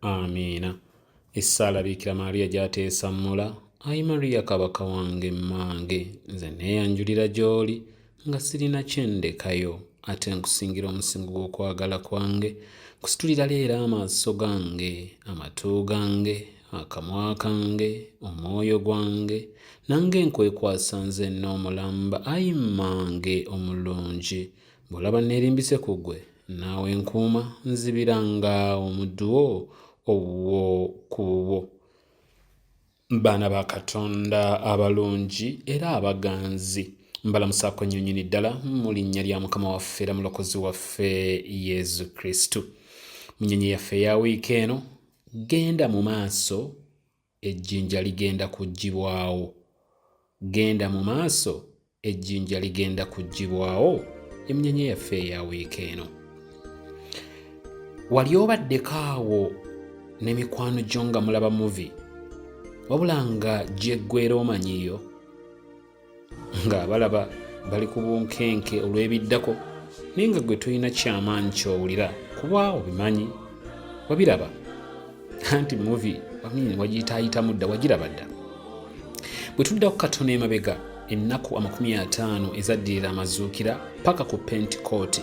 amiina essaala biikira maariya gyateesammula ayi mariya kabaka wange mmange nze neeyanjulira gy'oli nga sirina kyendekayo ate nkusingira omusingo gw'okwagala kwange kusitulira leero amaaso gange amatu gange akamwa kange omwoyo gwange nange nkwekwasa nze n'omulamba ayi mmange omulungi Bw'olaba nneerimbise ku ggwe, naawe nkuuma, nzibira nga omuddu wo owuwo ku bubwo. Baana ba Katonda abalungi era abaganzi, mbalamusaako nnyo nnyini ddala mu linnya lya Mukama waffe era Mulokozi waffe Yesu Kristo. Mu nnyonyi yaffe eya wiiki eno, genda mu maaso ejjinja ligenda kuggyibwawo. Genda mu maaso, ejjinja ligenda kuggyibwawo. Emnyenya yaffe eya wiiki eno. Wali obaddeko awo ne mikwano gyo nga mulaba muvi wabula nga gyeggwera omanyiyo ng'abalaba bali ku bunkenke olw'ebiddako naye nga gwe tolina kyamaanyi kyowulira kuba obimanyi wabiraba anti muvi wamini wagiyitaayitamu dda wagiraba dda bwe tudda ku katono emabega ennaku amakumi ataano ezaddirira amazuukira paka ku pentikooti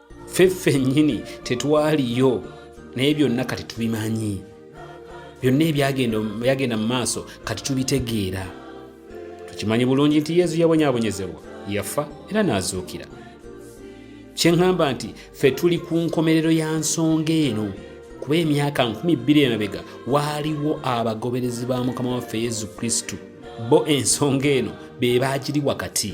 ffe ffennyini tetwaliyo naye byonna kati tubimanyi byonna ebyagenda mu maaso kati tubitegeera tukimanyi bulungi nti yezu yabonyabonyezebwa yafa era n'azuukira kyeŋŋamba nti ffe tuli ku nkomerero ya nsonga eno kuba emyaka nkumi bbiri emabega waaliwo abagoberezi ba mukama waffe yezu kristo bo ensonga eno be baagiri wakati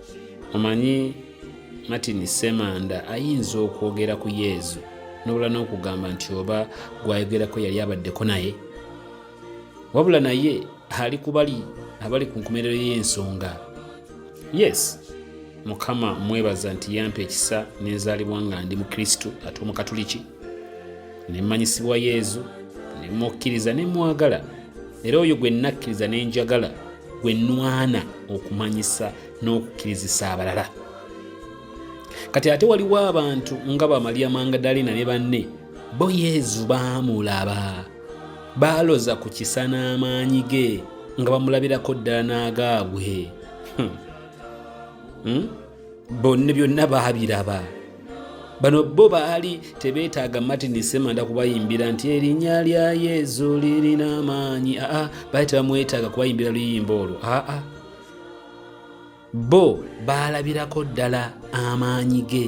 omanyi martin semanda ayinza okwogera ku yezu nobula n'okugamba nti oba gwayogerako yali abaddeko naye wabula naye ali kubali abali ku nkomerero y'ensonga yes mukama mwebaza nti yampa ekisa nenzaalibwa nga ndi mu kristo ate omukatuliki ne mmanyisibwa Yezu ne mmukkiriza ne mmwagala era oyo gwe nnakkiriza ne njagala gwe nnwana okumanyisa n'okukkirizisa abalala kati ate waliwo abantu nga bamaliya mangadalina ne banne bo yezu baamulaba baaloza ku kisa n'amaanyi ge nga bamulabirako ddala n'agaabwe hmm. hmm? bonna byonna baabiraba bano bo baali tebeetaaga martin semanda kubayimbira nti erinnya lya yezu lirina amaanyi aa baali tebamwetaaga kubayimbira luyimba olwo aa bo baalabirako ddala amaanyi ge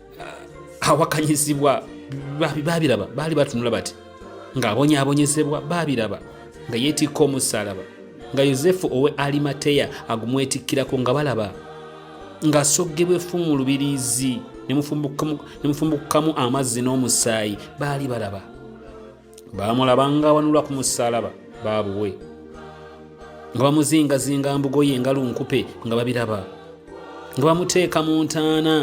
awakanyizibwa babiraba baali batunula bati ng'abonyaabonyezebwa babiraba nga yeetikka omusaalaba nga yosefu owe alimateya agumwetikkirako nga balaba ng'asoggebwa effu mu lubiriizi ne mufumbukukamu amazzi n'omusaayi baali balaba baamulaba ng'awanulwa ku musaalaba baabuwe nga bamuzingazinga mbugoye nga lunkupe nga babiraba nga bamuteeka mu ntaana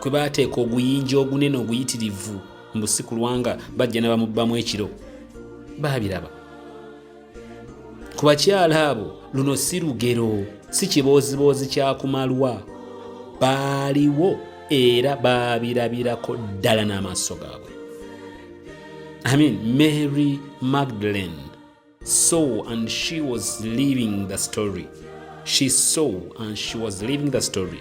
kwe baateeka oguyinja ogunene oguyitirivu mbu si kulwanga bajja ne bamubbamu ekiro baabiraba ku bakyala abo luno si lugero si kibooziboozi kyakumalwa baaliwo era baabirabirako ddala n'amaaso gaabwe amin mary magdalene saw and she was living the story she saw and she was living the story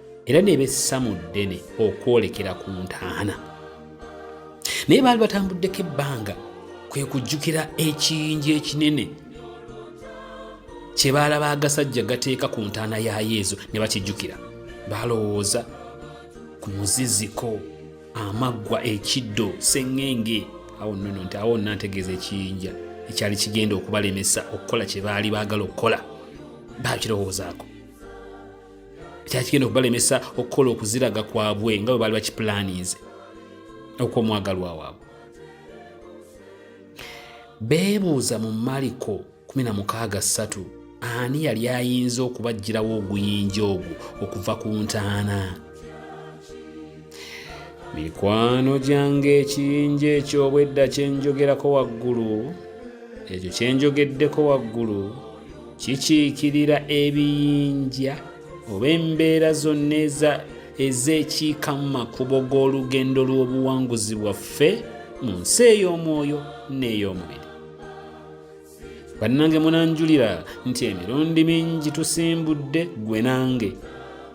era ne bessa mu ddene okwolekera ku ntaana naye baali batambuddeko ebbanga kwe kujjukira ekiyinja ekinene kye baalaba agasajja gateeka ku ntaana ya yezu ne bakijjukira balowooza ku muziziko amaggwa ekiddo seŋŋenge awo nono nti awo nantegeeza ekiyinja ekyali kigenda okubalemesa okukola kye baali baagala okukola baakirowoozaako kyali kigenda okubalemesa okukola okuziraga kwabwe nga bwe baali bakipulaninze okw'omwagalwa waabwe beebuuza mu maliko 163 ani yali ayinza okubajjirawo oguyinja ogwo okuva ku ntaana mikwano gyange ekiyinja eky'obwedda kyenjogerako waggulu ekyo kyenjogeddeko waggulu kikiikirira ebiyinja oba embeera zonna eza ezeekiika mu makubo g'olugendo lw'obuwanguzi bwaffe mu nsi ey'omwoyo n'ey'omubiri bannange munanjulira nti emirundi mingi tusimbudde gwe nange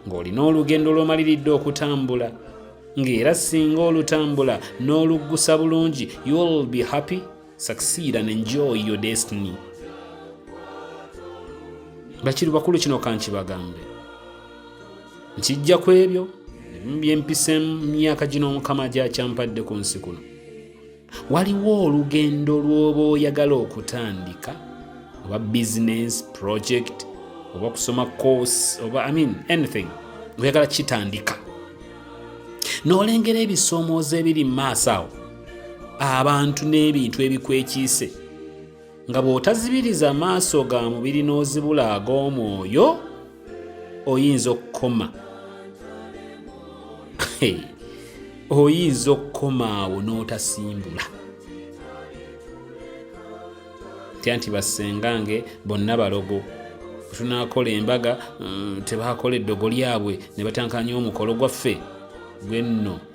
ng'olina olugendo lw'omaliridde okutambula ng'era singa olutambula n'oluggusa bulungi you'll be happy succeed and enjoy your destiny bakiri bakulu kino kankibagambe nkijja ku ebyo byempise mu myaka gino omukama gyakyampadde ku nsi kuno waliwo olugendo lw'oba oyagala okutandika oba business project oba kusoma course oba i mean anything oyagala kitandika n'olengera ebisomooza ebiri mu maaso awo abantu n'ebintu ebikwekiise nga bw'otazibiriza maaso ga mubiri n'ozibula ag'omwoyo oyinza okukoma oyinza okukoma awo n'otasimbula tya nti bassengange bonna balogo tunakola embaga mm, tebakola eddogo lyabwe ne batankanya omukolo gwaffe gwenno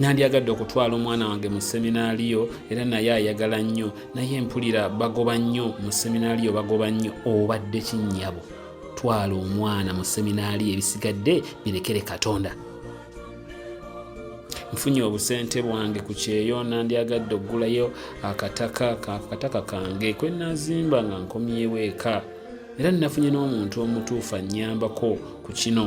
nandyagadde okutwala omwana wange mu seminaaliyo era naye ayagala nnyo naye mpulira bagoba nnyo mu seminaaliyo bagoba nnyo obadde kinnyabo twala omwana mu seminaaliyo ebisigadde birekere katonda nfunye obusente bwange ku kyeyo nandyagadde okugulayo akataka akataka kange kwe nazimba nga nkomyewo eka era nnafunye n'omuntu omutuufu annyambako ku kino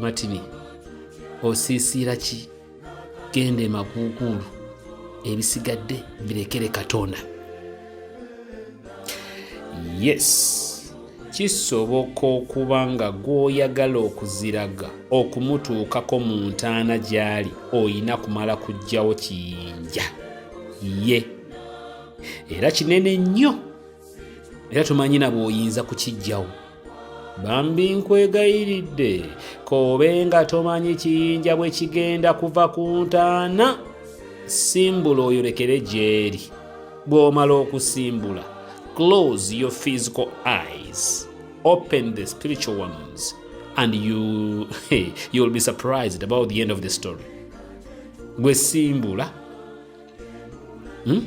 Martin osiisiira ki genda emakuukuulu ebisigadde birekere katonda yes kisoboka okuba nga gw'oyagala okuziraga okumutuukako mu ntaana gy'ali olina kumala kujjawo kiyinja ye era kinene nnyo era tomanyi na bw'oyinza kukiggyawo bambi nkwegayiridde koobe nga tomanyi kiyinja bwe kigenda kuva ku ntaana simbula oyolekere gy'eri bw'omala okusimbula close your physical eyes open the spiritual ones and you, you'll be surprised about the end of the story gwe simbula hmm?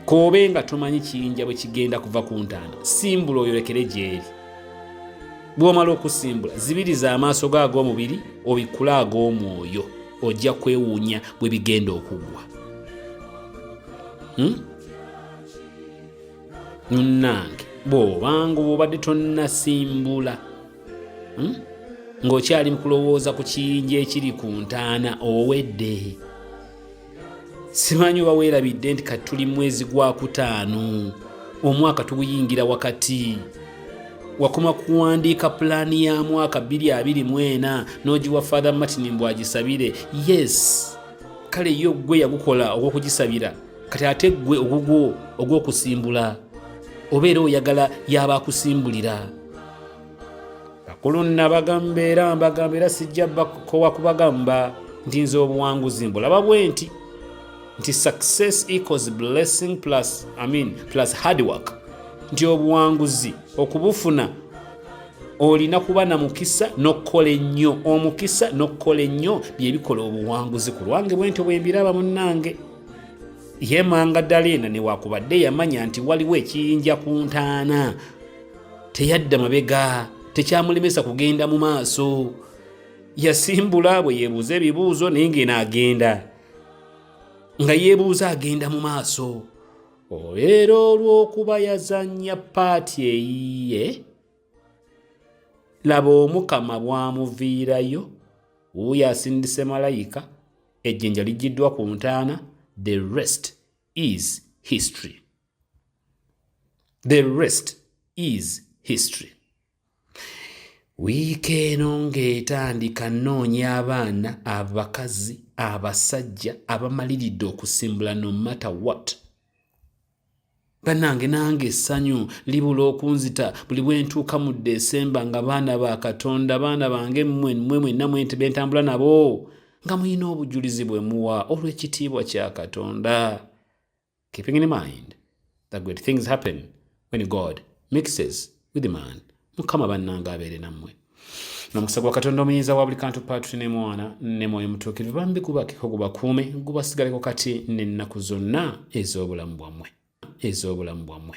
koobe nga tomanyi kiyinja bwe kigenda kuva ku ntaana simbula oyolekere gyeri bw'omala okusimbula zibiriza amaaso go ag'omubiri obikkule ag'omwoyo ojja kwewuunya bwe bigenda okuggwa hmm? munnange bw'obanga obubadde tonnasimbula hmm? ng'okyali kulowooza ku kiyinja ekiri ku ntaana owedde simanyi oba weerabidde nti kati tuli mwezi gwa kutaano omwaka tuguyingira wakati wakoma kuwandiika pulaani ya mwaka 224 n'ogiwa father martin mbw agisabire yes kale yo gwe yagukola ogw'okugisabira kati ate ggwe ogugwo ogw'okusimbula obeera oyagala yaba akusimbulira kulunna bagamba era mbagamba era sijja bakowa kubagamba nti nze obuwanguzi mbulaba bwe nti nti success equals blessing plus, I mean, plus hard work nti obuwanguzi okubufuna olina kuba na mukisa n'okukola ennyo omukisa n'okukola ennyo bye bikola obuwanguzi ku lwange bwe ntyo bwe mbiraba munnange yemanga ddala ena newakubadde yamanya nti waliwo ekiyinja ku ntaana teyadda mabega tekyamulemesa kugenda mu maaso yasimbula bwe yeebuuza ebibuuzo naye ngeno agenda nga yeebuuza agenda mu maaso olwera olw'okuba yazannya paati eyiye laba omukama bwamuviirayo wuuyo asindise malayika ejjinja lijjiddwa ku ntaana the rest is history the rest is history wiiki eno ng'etandika nnoonya abaana abakazi abasajja abamaliridde okusimbula no matter what bannange nange essanyu libula okunzita buli bwe ntuuka mu desemba nga baana ba katonda baana bange mmwe mmwe mwenna mwente be ntambula nabo nga mulina obujulizi bwe muwa olw'ekitiibwa kya katonda keeping in mind that great things happen when God mixes with man. Mukama bannanga abeere nammwe. N'omukisa gwa Katonda omuyinza wa buli kantu Paatuli ne Mwana ne Mwoyo Mutuukirivu bambi gubakeko gubakuume gubasigaleko kati n'ennaku zonna ez'obulamu bwammwe ez'obulamu bwammwe.